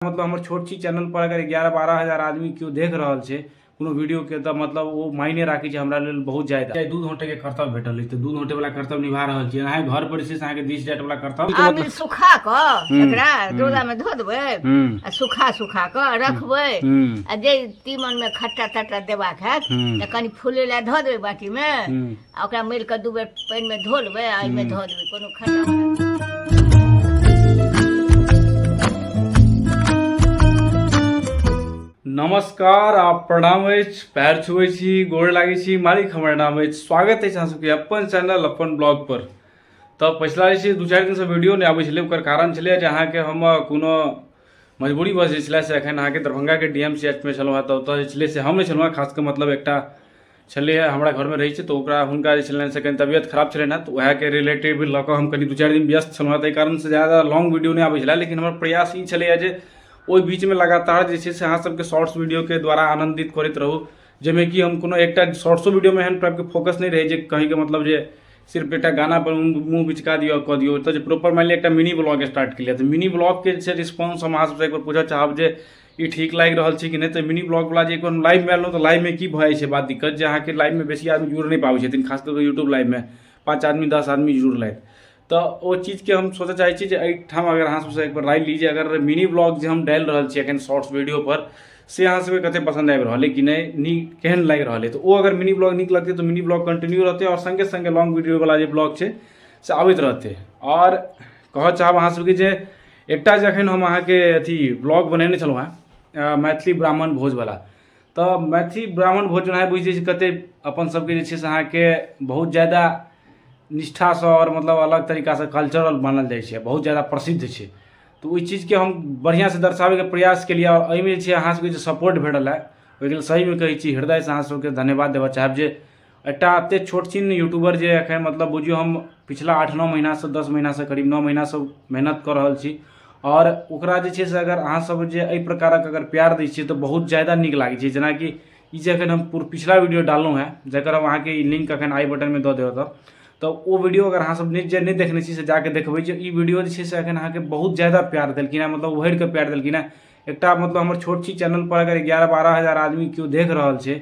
मतलब हमर छोट छी चैनल पर अगर एगारह बारह हजार आदमी केओ देख रहल छै कोनो वीडियोके तऽ मतलब ओ मायने राखै छै हमरा लेल बहुत जायदा चाहे दूध औंटेके कर्तव्य भेटल अछि तऽ दूध औंटेवला कर्तव्य निभा रहल छी अहाँ घर पर जे छै से अहाँके दिस जाइटवला कर्तव्य आब ई सुखा कऽ एकरा डोलामे धो देबै आ सुखा सुखा कऽ रखबै आ जे तीमनमे खट्टा तट्टा देबाक हैत तऽ कनि फूलै लए धऽ देबै बाटीमे आ ओकरा मरि कऽ दू बेर पानिमे धो लेबै आ ओहिमे धऽ देबै कोनो खट्टा नमस्कार आ प्रणाम अछि पैर छुबै छी गोर लागै छी मालिक हमर नाम अछि स्वागत अछि अहाँ सबके अपन चैनल अपन ब्लॉग पर तऽ पछिला जे छै दू चारि दिनसँ वीडियो नहि आबै छलै ओकर कारण छलै जे अहाँके हम कोनो मजबूरी बस जे छलै से एखन अहाँके दरभंगाके डी एम सी एच मे छलहुँ हेँ तऽ ओतऽ जे छलै से हम नहि छलहुँ हेँ खास कऽ मतलब एकटा छलै हँ हमरा घरमे रहै छै तऽ ओकरा हुनका जे छलनि से कनि तबियत खराब छलनि हँ तऽ वएहके रिलेटिव लऽ कऽ हम कनि दुइ चारि दिन व्यस्त छलहुँ हँ ताहि कारणसँ ज्यादा लॉन्ग वीडिओ नहि आबै छलै लेकिन हमर प्रयास ई छलै हँ जे ओहि बीचमे लगातार जे छै से अहाँसबके शॉर्ट्स वीडिओके द्वारा आनन्दित करैत रहू जाहिमे कि हम कोनो एकटा शॉर्ट्सो वीडिओमे एहन टाइपके फोकस नहि रहै जे कहैके मतलब जे सिर्फ एकटा गानापर मुँह बिचका दिअ कऽ दिऔ तऽ जे प्रॉपर मानि लिअऽ एकटा मिनी ब्लॉग स्टार्ट केलिए तऽ मिनी ब्लॉगके जे छै रिस्पॉन्स हम अहाँसबसँ एकबेर पूछऽ चाहब जे ई ठीक लागि रहल छै कि नहि तऽ मिनी ब्लॉगवला जे कोनो लाइवमे आयल तऽ लाइवमे की भऽ जाइ छै बात दिक्कत जे अहाँके लाइवमे बेसी आदमी जुड़ि नहि पाबै छथिन खास कऽ कऽ यूट्यूब लाइवमे पाँच आदमी दस आदमी जुड़लथि तऽ ओ चीजके हम सोचऽ चाहै छी जे एहिठाम अगर अहाँ सबसँ एकबेर राय ली जे अगर मिनी ब्लॉग जे हम डालि रहल छी एखन शॉर्ट्स वीडियोपर से अहाँ सबके कतेक पसन्द आबि रहल अइ कि नहि नीक केहन लागि रहल अइ तऽ ओ अगर मिनी ब्लॉग नीक लगतै तऽ मिनी ब्लॉग कन्टिन्यू रहतै आओर सङ्गे सङ्गे लॉन्ग वीडियोवला जे ब्लॉग छै से आबैत रहतै आओर कहऽ चाहब अहाँ सबके जे एकटा जे एखन हम अहाँके अथी ब्लॉग बनेने छलहुँ हेँ मैथिली ब्राह्मण भोजवला तऽ मैथिली ब्राह्मण भोज अहाँ बुझिते छी कतेक अपनसभके जे छै से अहाँके बहुत ज्यादा निष्ठासँ आओर मतलब अलग तरीकासँ कल्चरल मानल जाइ छै बहुत ज्यादा प्रसिद्ध छै तऽ ओहि चीजके हम बढ़िआँसँ दर्शाबैके प्रयास केलिए आओर एहिमे जे छै अहाँसभके जे सपोर्ट भेटल हँ ओहिके लेल सहीमे कहै छी हृदयसँ अहाँसभके धन्यवाद देबऽ चाहब जे एकटा एतेक छोट छिन यूट्यूबर जे एखन मतलब बुझियौ हम पिछला आठ नओ महिनासँ दस महिनासँ करीब नओ महिनासँ मेहनत कऽ रहल छी आओर ओकरा जे छै से अगर अहाँ सब जे एहि प्रकारक अगर प्यार दै छियै तऽ बहुत जादा नीक लागै छै जेनाकि ई जे एखन हम पिछला वीडियो डाललहुँ हँ जकर हम अहाँके ई लिंक एखन आइ बटनमे दऽ देब तऽ तऽ ओ वीडियो अगर अहाँ सब जे नहि देखने छी से जाकऽ देखबै जे ई वीडियो जे छै से एखन अहाँके बहुत जादा प्यार देलखिन हँ मतलब उहड़िकऽ प्यार देलखिन हँ एकटा मतलब हमर छोट छी चैनलपर अगर एगारह बारह हजार आदमी केओ देख रहल छै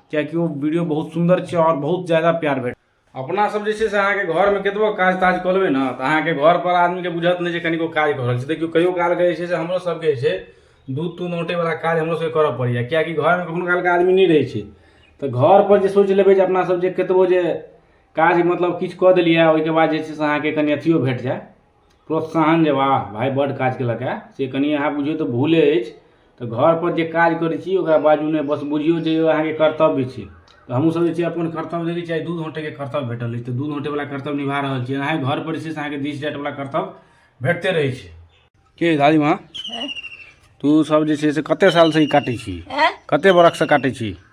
किएकि ओ वीडियो बहुत सुन्दर छै आओर बहुत जादा प्यार भेट अपना सब जे छै से अहाँके घरमे कतबो काज ताज कऽ लेबै ने तऽ अहाँके घर पर आदमीके बुझत नहि जे कनिको काज कऽ रहल छै देखियौ कहियो काल जे छै से हमरो सबके जे छै दूध तूध औंटे वला काज हमरो सबके करऽ पड़ैया किएकि घरमे कखनो कालके आदमी नहि रहै छै तऽ घर पर जे सोचि लेबै जे अपना सब जे कतबो जे काज मतलब किछु कऽ देलियै ओहिके बाद जे छै से अहाँके कनि अथियो भेट जाय प्रोत्साहन जे वाह भाय बड काज केलक है से कनि अहाँ बुझियौ तऽ भूले अछि तऽ घर पर जे काज करै छी ओकरा बाजू नहि बस बुझियौ जे अहाँके कर्तव्य छी तऽ हमहुँ सब जे छै अपन कर्तव्य देखै छियै आइ दूध औंटै के कर्तव्य भेटल अछि तऽ दूध औंटै बला कर्तव्य निभा रहल छी अहाँ घर पर जे छै से अहाँके दिस जाट बला कर्तव्य भेटते रहै छै के दादी माँ तू सब जे छै से कते साल से ई काटै छी कते बरख से काटै छी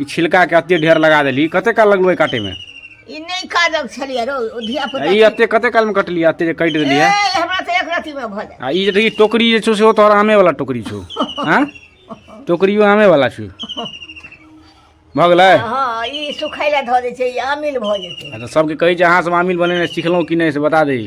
ई छिलका के अते ढेर लगा देली कते काल लगलो काटे में ई नहीं काजक छलिए रो धिया पुता ई अते कते काल में कटली अते जे कट देली है हमरा तो एक राति में भले आ ई जे टोकरी जे छो से ओ तोहर आमे वाला टोकरी छो हां टोकरियो आमे वाला छो भऽ गेलै हँ ई सुखै लए धऽ दै छै ई अमिल भऽ जेतै अच्छा सबके कहै छै अहाँ सब अमिल बनेनाइ सिखलहुँ कि नहि से बता दही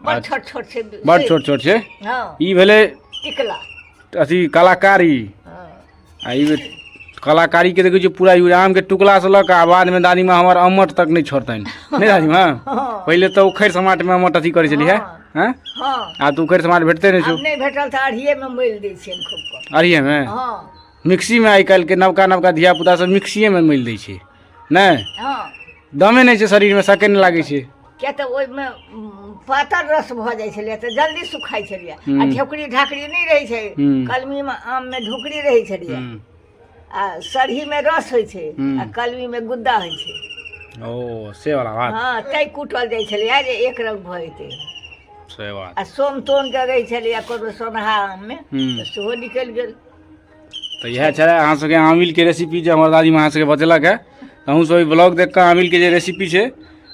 बड़ अच्छा। छोट छोट छै बड़ छोट छोट छै हँ ई भेलै टिकला अथी कलाकारी हँ आ ई भेल- कलाकारी के देखै छियै पूरा ई आम के टुकला से लऽ कऽ आ बाद में दादी माँ हमर अम्मट तक नहि छोड़तनि नहि दादी माँ हँ पहिले तऽ उखड़ि समाट में अम्मट अथी करै छलियै हँ। हैं हँ आब तऽ उखड़ि समाट भेटते नहि आब छौ नहि भेटल तऽ अढ़िएमे मिल दै छियनि खूब कऽ अरिये में हँ मिक्सी में आइ काल्हि के नवका नवका धिया पुता सब मिक्सीए में मिल दै छै नहि हँ दमे नहि छै शरीर में सके नहि लागै छै किया तऽ ओहिमे उम, पातर रस भऽ जाइ छलैए तऽ जल्दी सुखाइ छलैए हूँ। आ ढेकड़ी ढाकड़ी नहि रहै छै हूँ। कलमीमे आममे ढोकरी रहै छलैए हम्म, आ सरहीमे रस होइ छै हूँ। आ कलमीमे गुद्दा होइ छै ओ से वाला बात हँ तै कुटल जाइ छलैए जे एक रंग भऽ जेतै से बात आ सोम तोम जे रहै छलैए कोनो सोनहा आममे हम्म, तऽ सेहो निकलि गेल तऽ इएह छलै अहाँ सबके आमिलके रेसिपी जे हमर दादीमे अहाँ सबके बतेलक है तऽ अहूँ सब ई ब्लॉग देख कऽ आमिलके जे रेसिपी छै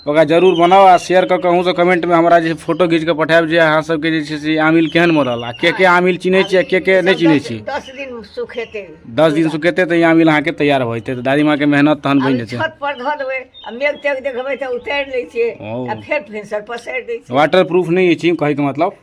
ओकरा जरूर बनाउ आ शेयर कऽ कऽ अहूँ सब कमेंटमे हमरा जे फोटो घीच कऽ पठायब जे अहाँ सबके जे छै से आमिल केहन मरल आ के के आमिल चिन्है छी आ के के नहि चिन्है छी दस दिन सुखेतै दस दिन सुखेतै तऽ ई आमिल अहाँके तैयार भऽ जेतै तऽ दादीमाँके मेहनत तहन बनि जेतै छत पर धऽ देबै आ मेघ तेघ देखबै तऽ उतारि लै छियै आ फेर भिनसर पसारि दै छियै वाटर प्रूफ नहि अछि कहैके मतलब